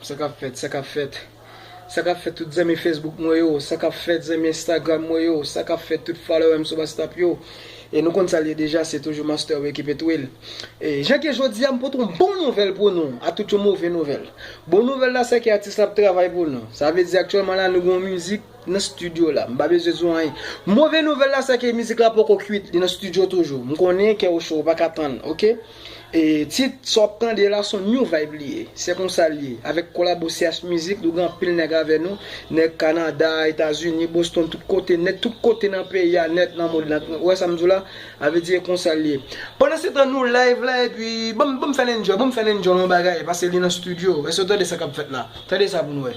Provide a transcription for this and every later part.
Sakap fèt sakap fèt sakap fèt tout zanmi Facebook mwen yo sakap fèt zanmi Instagram mwen yo sakap fèt tout followèm sou wastap yo e nou konn sal ye deja se toujou master wi ki pete wil e jan ke jodia m pote yon bon nouvèl pou nou atout yon move nouvèl bon nouvèl la seke atis la ap travay pou nou sa vle di aktyèlman la nou gen yon mizik Nan studio la. M pa bezwen di w anyen. Move nouvèl la se ke mizik la poko kwit. Li nan studio toujou. M konnen kè w cho, ou pa ka tann. Ok. E tit sa w ap tande la s on new vibe li ye. Se konsa l ye. Avèk kolabo CH Music, nou gen anpil nèg avè nou. Nèg Kanada, Etazini, Boston, tout kote nèt. Tout kote nan peyi a nèt, nan mond lan. Ou wè sa m di w la? A vle di e konsa l ye. Pandansetan nou live la epi banm banm fè l enjoy, banm fè l enjoy yon bagay pase li nan studio. Èske w tande sa k ap fèt la? Tande sa pou n wè.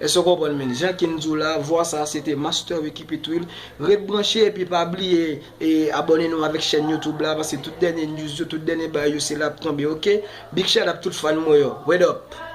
Èske w konprann menn jan King di w la, vwa sa se te Master Ricky Pitwill. Ret branche epi pa bliye e abòne nou avèk chèn YouTube la paske tout dènye news yo, tout dènye bagay yo se la ap tonbe ok. Big shout-out tout fan mwen yo. Word up!